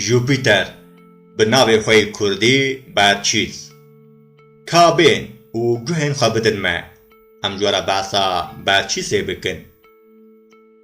Jupîter bi navê xwe yê kurdî Berçîs. Kabên û guhên xwe bidin me, em ji we re behsa Berçîsê bikin.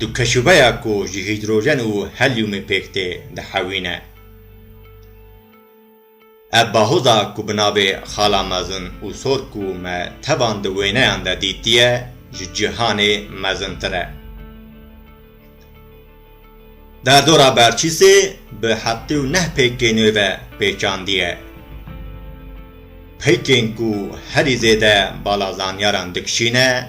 Du keşûbeya ku ji hîdrojen û helyûmê pêk tê dihewîne. Ev bahoza ku bi navê Xala Mezin û Sor ku me tevan di wêneyan de dîtiye ji cîhanê mezintir e. Derdora Berçîsê bi heftê û neh pêkê nû ve pêçandiye. Peykên ku herî zêde bala zanyaran dikişîne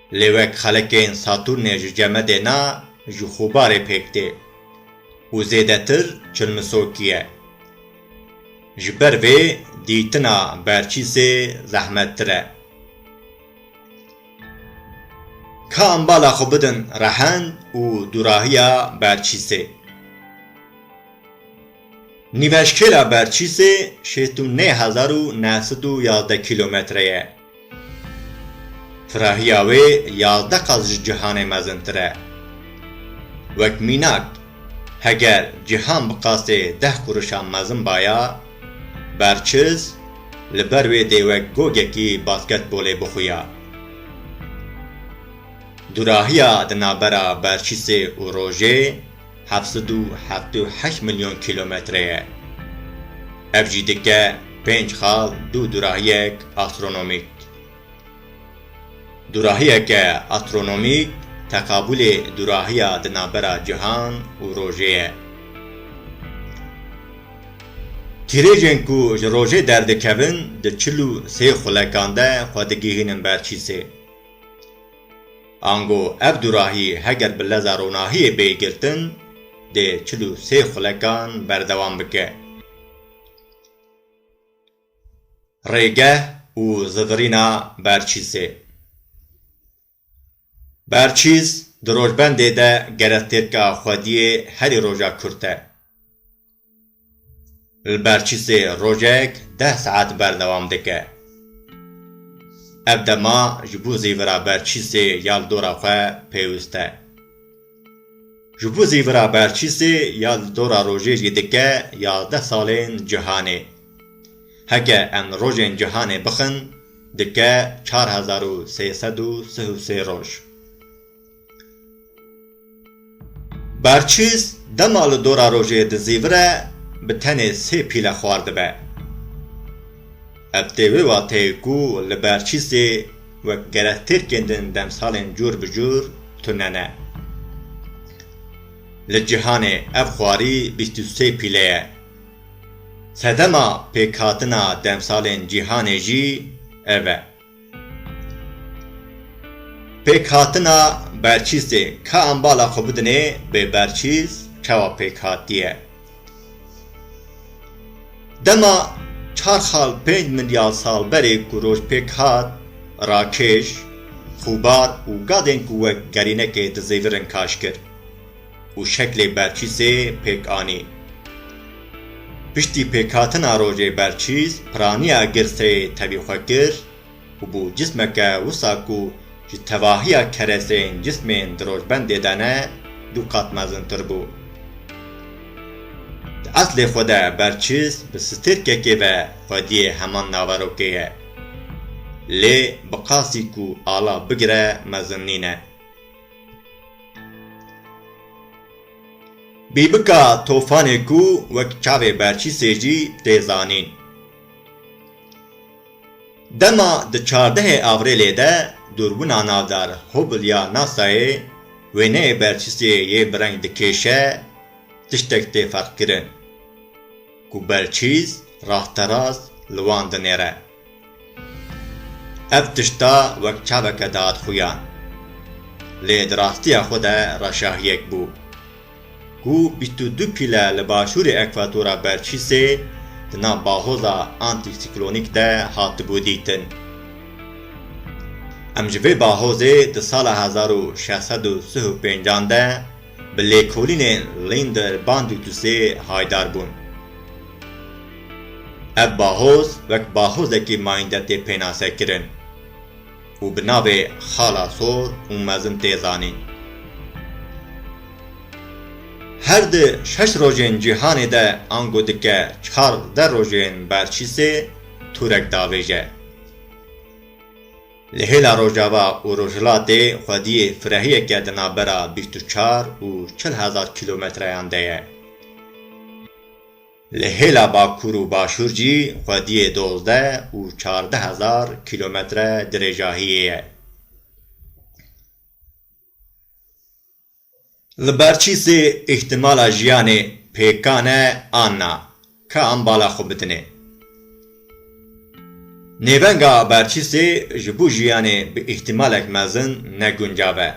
Lê wek xelekên Satûrnê ji ceme dê na ji Xûbarê pêk tê û zêdetir çilmisokî ye. Ji ber vê dîtina berçîsê zehmettir e. Ka em bala xwe bidin rehend û dûrahiya berçîsê. Nîveşkêla berçîsê şêst û nê hezar û neh sed û yazdeh kîlometre ye. Firahiya wê yazdeh qat ji cîhanê mezintir e. Wek mînak, heger cîhan bi qasê deh kurişan mezin baya, berçiz li ber wê dê wek gogekî basketbolê bixuya. Dûrahiya di navbera berçîsê û rojê, heft sed û heftê û heşt milyon kîlometre ye. Ev jî dike pênc xal dû durahiyek astronomîk. Durahiyeke astronomîk teqabûlê durahiya di navbera cihan û rojê ye. Tîrêjên ku ji rojê derdikevin di çil û sê xulekan de xwe digihînin ber çîsê. Ango ev dûrahî heger bi leza ronahiyê bê girtin, dê çil û sê xulekan berdewam bike. Rêgeh û zivirîna Berçîsê Berçîs di rojbendê de gerestêrka xwediyê herî roja kurt e. Li Berçîsê rojek deh saet berdewam dike. Ev dema ji bo zîvira Berçîsê ya li dora xwe pêwist e. Ji bo zîvira Berçîsê ya li dora rojê jî dike yazdeh salên cihanê. Heke em li rojên cihanê bixin dike çar hezar û sê sed û sih û sê roj. Berçîs dema li dora rojê dizîvire bi tenê sê pîle xwar dibe. Ev tê wê wateyê ku li Berçîsê wek gerek têrkên din demsalên cûr bi cûr tune ne. Li cîhanê ev xwarî bîst û sê pîle ye. Sedema pêkhatina demsalên cîhanê jî ev e. Pêkhatina berçîsê, ka em bala xwe bidinê bê berçîs çawa pêk hatiye. Dema çar xal pênc milyar sal berê ku roj pêk hat, rakêş, xûbar û gadên ku wek gerînekê dizêvirin kaşkir, û şeklê berçîsê pêk anî. Piştî pêkhatina rojê berçîs piraniya girseyê tevî xwe kir û bû cismeke wisa ku ji tevahiya kereseyên cismên di rojbendê de ne du qat mezintir bû. Di eslê xwe de berçîs bi stêrkekê ve xwediyê heman naverokê ye. Lê bi qasî ku ala bigire mezin nîne. Bîbika tofanê ku wek çavê berçî sêcî tê zanîn. Dema di çardehê Avrêlê de dûrbina navdar Hubble ya NASA'yê wêneyê berçîsê yê bi reng dikêşe tiştek tê ferqkirin ku berçîs rasterast li wan dinêre. Ev tişta wek çaveke dihat xuya. Lê di rastiya xwe de reşahiyek bû. Ku bîst û du pîle li başûrê ekvatora berçîsê di nav bahoza antîsiklonîk de hatibû dîtin. Em ji vê bahozê di sala hezar û şeş sed û sih û pêncan de, Bi lêkolînên Linder Band û Tusê haydar bûn. Ev bahoz wek bahozekî mayînde tê pênase kirin û bi navê Xala Sor û Mezin tê zanîn. Her di şeş rojên cîhanê de ango dike çardeh rojên berçîsê tûrek davêje. Li hêla Rojava û Rojhilatê xwediyê firehiyeke di navbera bîst û çar û çil hezar kîlometreyan de ye. Li hêla Bakur û Başûr jî xwediyê dozdeh û çardeh hezar kîlometre dirêjahiyê ye. Li ber çî sê îhtîmala jiyanê pêkan e an na, ka em bala xwe bitinê. Nêvenga ber çî sê ji bo jiyanê bi îhtîmalek mezin ne guncav e.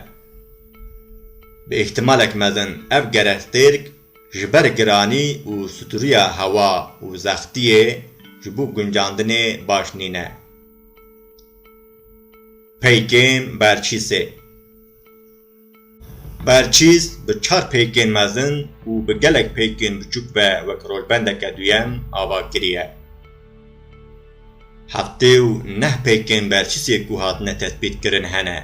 Bi îhtîmalek mezin ev gerestêrk ji ber giranî û stûriya hewa û zextiyê ji bo guncandinê baş nîne. Peykên ber çî sê. Berçîs bi çar pêkên mezin û bi gelek pêkên biçûk ve wek rolbendeke duyem ava kiriye. Heftê û neh pêkên Berçîsê ku hatine tespîtkirin hene.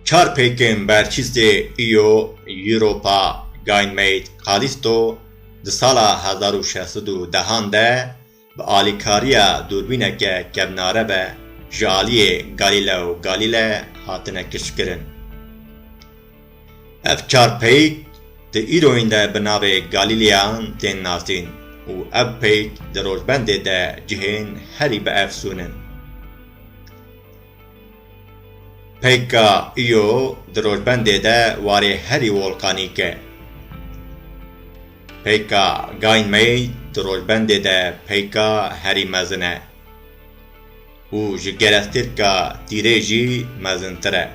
Çar pêkên Berçîsê Io, Europa, Gainmate, Kalisto di sala hezar û şeş sed û dehan de Bi alîkariya dûrbîneke kevnare ve ji aliyê Galileo Galilei hatine kişkirin. Ev çar peyk di îroyîn de bi navê Galîleyan tên nasîn û ev peyk di rojbendê de cihên herî biefsûn in. Peyka Io di rojbendê de warê herî wolkanîk e. Peyka Gainmei di rojbendê de peyka herî mezin e û ji gerestêrka Tîrê jî mezintir e.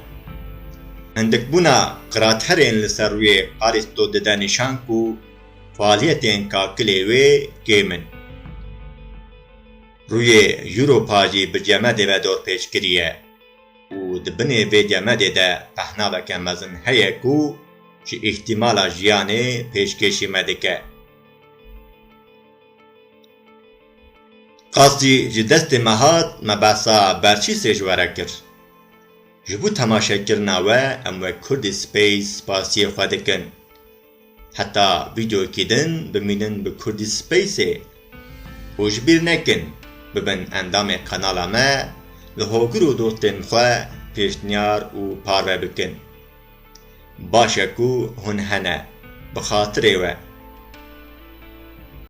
Hindikbûna qiraterên li ser rûyê Qaristo dide nîşan ku faaliyetên kakilê wê kêm in. Rûyê Europajî bi cemedê ve dorpêç kiriye û di binê vê cemedê de pehnaveke mezin heye ku ji îhtîmala jiyanê pêşkêşî me dike. Qasî ji destê me hat me behsa berçî sê ji we re kir. Ji bo temaşekirina we em wek Kurdî Space spasiyê xwe dikin. Heta vîdeoyekî din bimînin bi Kurdî Spaceê û ji bîr nekin bibin endamê kanala me, li hogir û dostên xwe pêşniyar û parve bikin. Baş e ku hûn hene bi xatirê we.